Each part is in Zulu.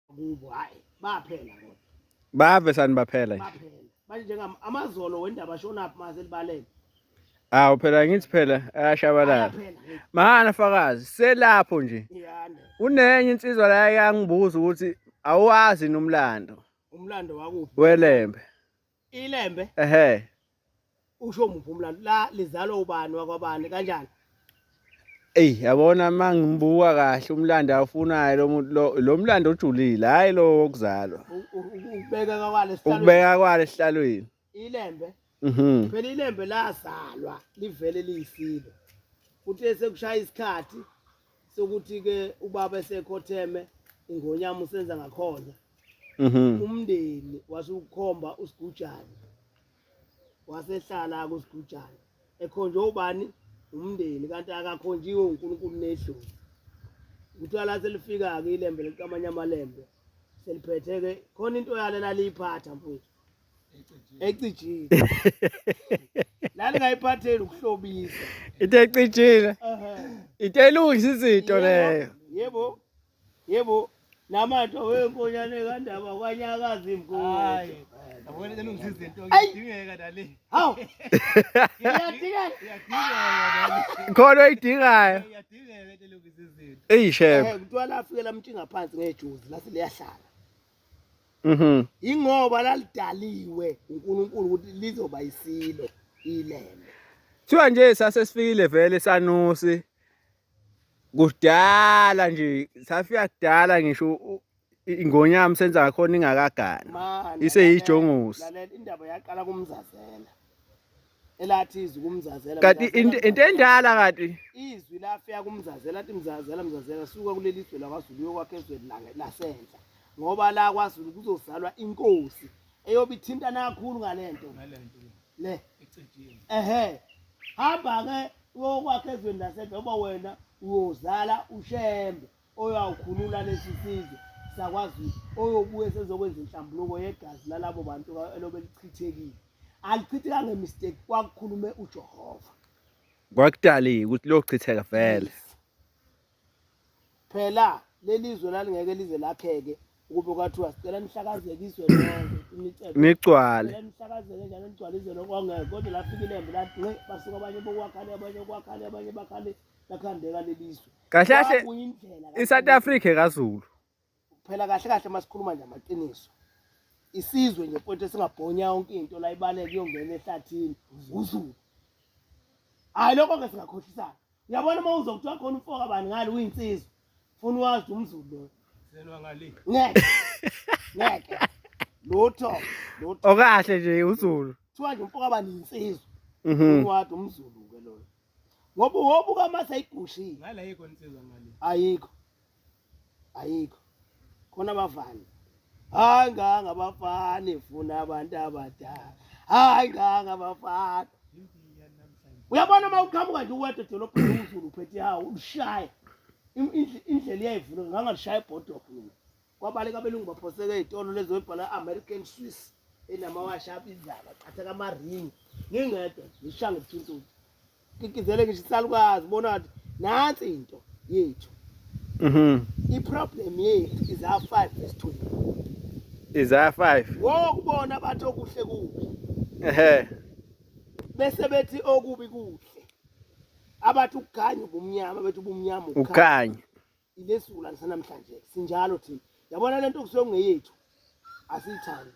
kubo hayi baphela kodwa bave sani baphela nje baphela manje njengam amazolo wendaba shonaphi maze libaleke awu phela ngithi phela ayashabalala ayaphela ngeke mahana fakazi selapho nje iyanda unenye insizwa la yangibuza ukuthi awazi nomlando umlando wakuphi welembe ilembe ehe usho muphi umlando la lizalwa ubani wakwabani kanjani Ey yabona mangimbuka kahle umlando awufunayo lo muntu lo lo mlando ojulile hayi lo wokuzalwa U- u- u- ukubeka kwale sihlalweni ukubeka kwale esihlalweni ilembe mhm phela ilembe lazalwa livele liyisilo kuthe sekushaya isikhathi sokuthi ke ubaba esekhotheme ingonyama usenza ngakhona mhm. umndeni wase ukhomba usigujane wasehlala kusigujane ekhonjwe ubani umndeni kanti akakhonjiwe uNkulunkulu nedlozi kuthiwa la selifika-ke ilembe likamanye amalembe seliphetheke khona into yalo elaliyiphatha mfowethu ecijile lalingayiphatheli ukuhlobisa into ecijile into elungisa izinto leyo yebo yebo namatho wenkonyane kandaba kwanyakaza imgoyi yabona elungisa izinto ngidingeka dali hawu iyadingeka khona oyidingayo iyadingeka elungisa izinto eyi shebe eh, kuthiwa lafikela mntshinga phansi ngejuzi lase liyahlala Mhm. Ingoba lalidaliwe uNkulunkulu ukuthi lizoba isilo ilembe. Kuthiwa nje sase sifikile vele sanusi kudala nje safika kudala ngisho u- i- ingonyama senza ngakhona ingakagana Manje, iseyijongosi lalela, indaba yaqala kumzazela elathi izwi kumzazela kanti into endala kanti izwi lafika kumzazela athi mzazela mzazela suka kuleli zwe lakwaZulu uyokwakha ezweni lange lasenhla ngoba la kwaZulu kuzozalwa inkosi eyobe ithintana kakhulu ngalento ngalento le ecijiwe ehe hamba ke uyokwakha ezweni lasenhla ngoba wena uyozala ushembe oyawukhulula lesi sizwe sakwaZulu oyobuye sezokwenza inhlambuluko yegazi lalabo bantu elobe lichithekile alichitheka ngemistake kwakukhulume uJehova kwakudaliwe ukuthi lochitheka vele phela lelizwe lalingeke lize lakheke ukube kwathiwa sicela nihlakazeke izwe lonke nigcwale nihlakazeke njalo nigcwale izwe lonke kwangeke kodwa lafika ilembe lathi nqe basuka abanye bokwakhala abanye kwakhale abanye bakhale lakhandeka lelizwe kahle kahle Wabuya indlela la- i-south africa ekazulu phela kahle kahle masikhuluma nje amaqiniso isizwe nje mfowethu esingabhonya yonke into la ibaleke iyongena ehlathini uzulu hayi lokho ke singakhohlisana uyabona uma uzwa kuthiwa khona umfoka bani ngale uyinsizwa funa uwazi ukuthi umzulu loyo Selwa ngale. ngeke ngeke lutho lutho okahle nje uzulu kuthiwa nje umfoka bani yinsizwa Mhm. funa uwazi umzulu-ke loyo ngoba uhobu kamase ayigushile ngala yiko insizwa ngale ayikho ayikho khona abafana hayi nganga abafana ifuna abantu abadala hayi nganga abafana uyabona uma uqhamuka nje uwedwa edolobheni uzulu uphethe hawu ulushaye indlela iyayivula ngangalishaya ibhodokho mina kwabaleka abelungu baphoseka ezitolo lezo ebhala American Swiss enamawashi abizayo baqhatheka amaringi ngingedwa ngishanga ubuthuntuthi kikizele ngisho isalukazi bona wathi nansi into yethu mhm iproblem yethu is our 5 verse 20 is our 5 ngokubona bathi okuhle kubi ehe bese bethi okubi kuhle abathi ukukhanya ubumnyama bethi ubumnyama ukukhanya ilesula lisanamhlanje sinjalo thina yabona lento kusuke kungeyethu asiyithandi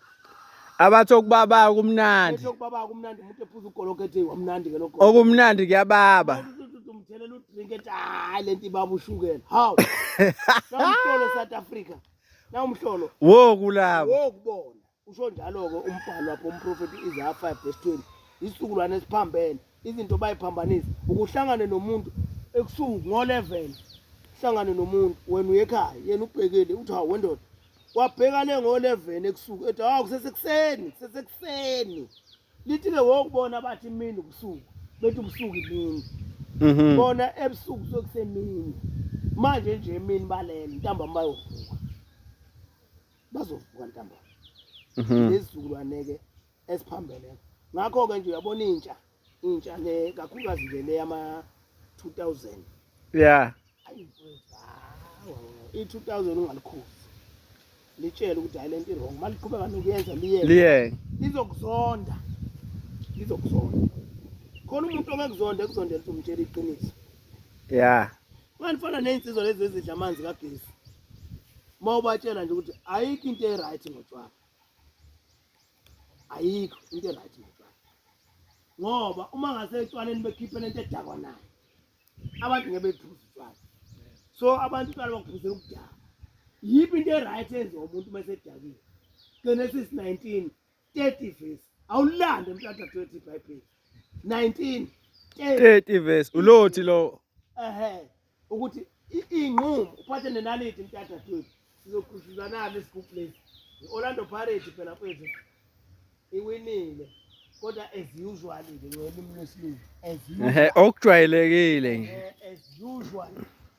abathi okubaba kumnandi okubaba kumnandi umuntu ephuza ugologo ethi wamnandi ke lokho okumnandi kuyababa umthelela udrink ethi hayi lento ibaba ushukela hawu namhlolo south africa nawumhlolo wo kulabo wo kubona Usho njalo-ke umbhalo wapho umprofethi Isaya 5 verse 20 isizukulwane esiphambene izinto bayiphambanisa ukuhlangane nomuntu ebusuku ngo-11 hlangane nomuntu wena uyekhaya yena ubhekile uthi hawu wendoda wabheka le ngo-11 ebusuku ethi hawu kusesekuseni kusesekuseni lithi-ke wokubona bathi imini ubusuku bethi ubusuku imini mhm. bona ebusuku sokusemini manje nje emini balele ntambama bayovuka bazovuka ntambama mhm. lezizukulwane-ke esiphambeleko ngakho-ke nje uyabona intsha intsha le kakhulukazi nje le yama-two thousand ya i-two thousand ungalikhuzi litshele ukuthi hayi le nto irong uma liqhubeka nokuyenza liyeke lizokuzonda lizokuzonda khona umuntu ongekuzonda ekuzondela ukuthi umtshela iqiniso ya Manje fana nezinsizwa lezi ezidla amanzi kagesi. Uma ubatshela nje ukuthi ayikho into eright ngotshwala. Ayikho into eright ngotshwala. Ngoba uma ngase etshwaleni bekhiphe lento edakwa nayo. Abantu ngeke bephuze utshwala. So abantu utshwala bakuphuzela ukudaka. Yiphi into eright enziwa umuntu uma esedakile? Genesis 19 30 verse awulande mntata 20 bible 19 30 verse ulothi lo ehe ukuthi inqumo uphathe nenaliti mntata 20 sizokhuzuzanana isigubhu lesi i-orlando pirate phela mfethu iwinile kodwa as usual ke ngolimi lwesilungu as usual okujwayelekile nje as usual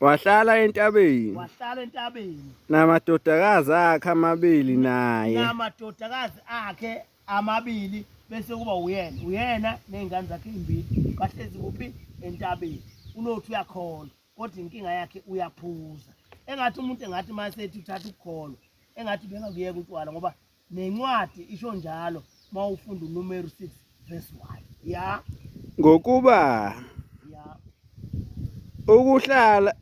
Wahlala entabeni. Wahlala entabeni. Namadodakazi akhe amabili naye. Namadodakazi akhe amabili bese kuba uyena. Uyena nezingane zakhe ezimbili bahlezi kuphi entabeni. Unothi uyakholwa kodwa inkinga yakhe uyaphuza. Engathi umuntu engathi masethi uthatha ukukholwa. Engathi bengakuyeka utshwala ngoba Nencwadi isho njalo mawufunda uNumeri 6 verse 1. Ya. Ngokuba ya. Ukuhlala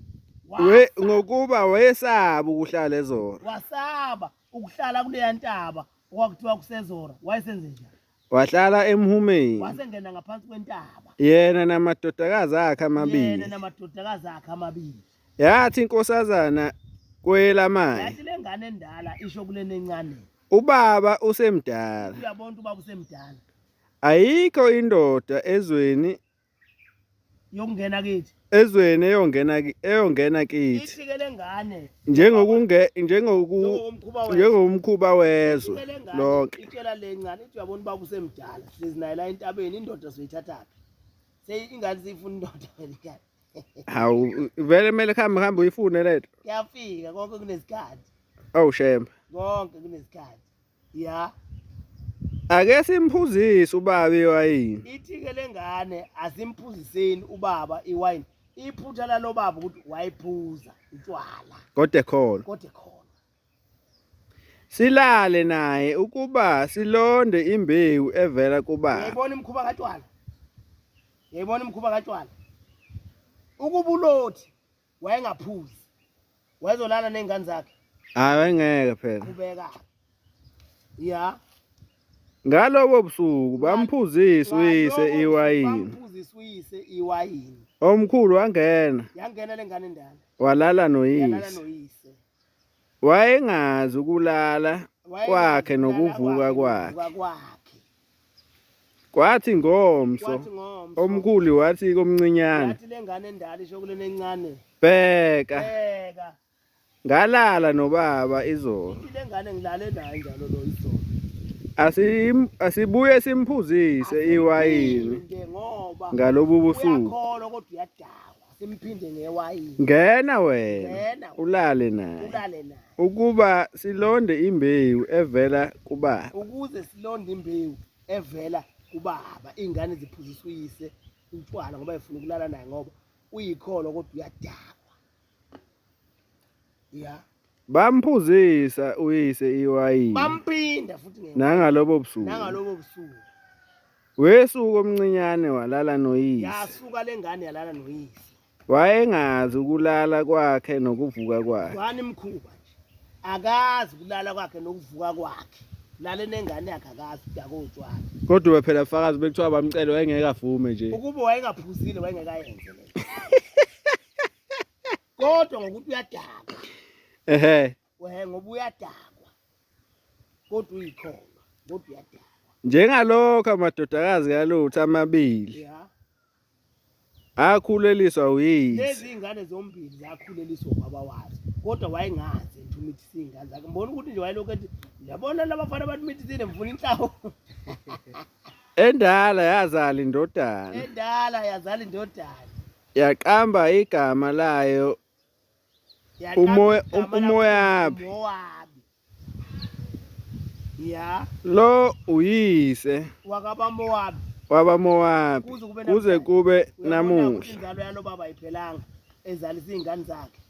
we ngokuba wayesaba ukuhlala ezora. Wasaba ukuhlala kuleya ntaba okwakuthiwa kusezora. Wayesenze njani? wahlala emhumeni wasengena ngaphansi kwentaba yena namadodakazi akhe amabili yena namadodakazi akhe amabili yathi inkosazana kwelamanje yathi lengane endala isho kulena encane ubaba usemdala uyabona ubaba usemdala ayikho indoda ezweni yokungena kithi ezweni eyongena eyongena kithi isikele ngane njengokunge njengoku njengomkhuba wezwe lonke itshela lencane ithi uyabona baba usemdala sizinayela entabeni indoda soyithatha phi seyi ingane siyifuna indoda welikani hawu vele kumele kuhambe kuhambe uyifune lento kuyafika konke kunesikhathi awu shembe konke kunesikhathi ya ake simphuzise ubaba iwayini ithike lengane asimphuziseni ubaba iwayini iphutha lalobaba ukuthi wayiphuza utshwala kodwa ekhona kodwa ekhona silale naye ukuba silonde imbewu evela kubaba yayibona imkhuba katshwala yayibona imkhuba katshwala ukubulothi wayengaphuzi wayezolala ney'ngane zakhe hayi wayengeke phela qhubeka ya ngalobo busuku bamphuzisa uyise iwayini bamphuzisa uyise iwayini omkhulu wangena yangena lengane endala walala noyise Wayengazi ukulala kwakhe nokuvuka kwakhe. Kwathi ngomso omkhulu wathi komncinyane. Yathi lengane endala isho kulena encane. Bheka. Bheka. Ngalala nobaba izolo. Lengane ngilale naye njalo lo izolo. asibuye simphuzise iwayini ngalobu busuku simphinde ngewayini ngena wena Ngena. ulale naye ulale naye ukuba silonde imbewu evela kubaba ukuze silonde imbewu evela kubaba iy'ngane ziphuziswa uyise utshwala ngoba efuna ukulala naye ngoba uyikholo kodwa uyadakwa ya Bamphuzisa uyise iwayini. Bampinda futhi ngeWayini. Nangalobo busuku. Nangalobo busuku. Wesuku omncinyane walala noyise. Yasuka lengane yalala noyise. Wayengazi ukulala kwakhe nokuvuka kwakhe. Wani mkhuba nje. Akazi ukulala kwakhe nokuvuka kwakhe. lale nengane yakhe akazi udaka otshwala kodwa ube phela fakazi bekuthiwa bamcele wayengeke avume nje ukuba wayengaphuzile wayengekayenze le kodwa ngokuthi uyadakwa ehe wehe ngoba uyadakwa kodwa uyikhona kodwa uyadakwa njengalokho amadodakazi kalutho amabili yeah akhuleliswa uyise lezi ingane zombili zakhuleliswa ubaba wazo kodwa wayengazi ukuthi singane zakhe mbona ukuthi nje wayelokhu ethi yabona labafana abantu mithithile mfuna inhlawo endala yazala indodana endala yazala indodana Yaqamba igama layo umoya umoyabi. Ya. Lo uyise wakaba Mowabi. Waba Mowabi kuze kube namuhla. Inzalo yalo baba ayiphelanga ezalisa izingane zakhe.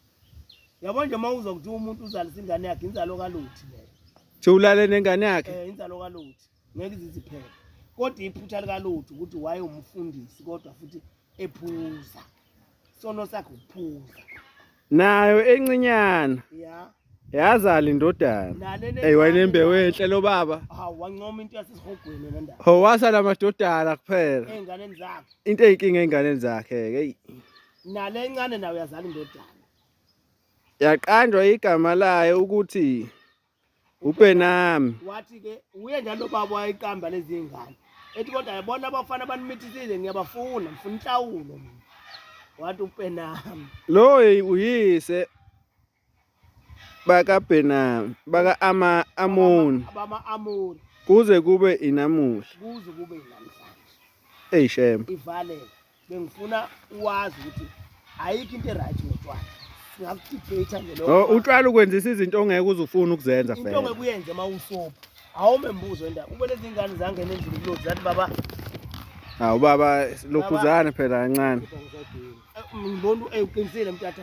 Yabo nje uma uzokuthiwa umuntu uzalisa ingane yakhe inzalo kaluthi leyo. Thulale nengane yakhe. Eh inzalo kaluthi. ngeke iziziphele kodwa iphutha likalutho ukuthi wayewumfundisi kodwa futhi ephuza sono sakhe ukuphuza nayo encinyana ya yazala indodana ey wayenembewu enhle lo baba hawu wancoma into yasesihogweni le ndaba ho wasala amadodana kuphela ezinganeni zakhe into eyinkinga ezinganeni zakhe ke nale encane nayo yazala indodana yaqanjwa igama layo ukuthi ubenami wathi ke uye njalo baba wayeqamba lezi ngane ethi kodwa yabona abafana banimithisile ngiyabafuna ngifuna inhlawulo mina wathi ubenami lo uyise baka benami baka ama amoni abama amoni kuze kube inamuhla kuze kube inamhlanje eyi shembe ivalele bengifuna uwazi ukuthi ayikho into eright ngotshwala singakudebate nje lokho oh, utshwala ukwenzisa izinto ongeke uzufuna ukuzenza into fela ongeke uyenze uma usobo awume mbuzo endaba ube lezi ngane zangena endlini kulo zathi baba hawu baba lokhuzana phela kancane ngibona eyiqinisile mtata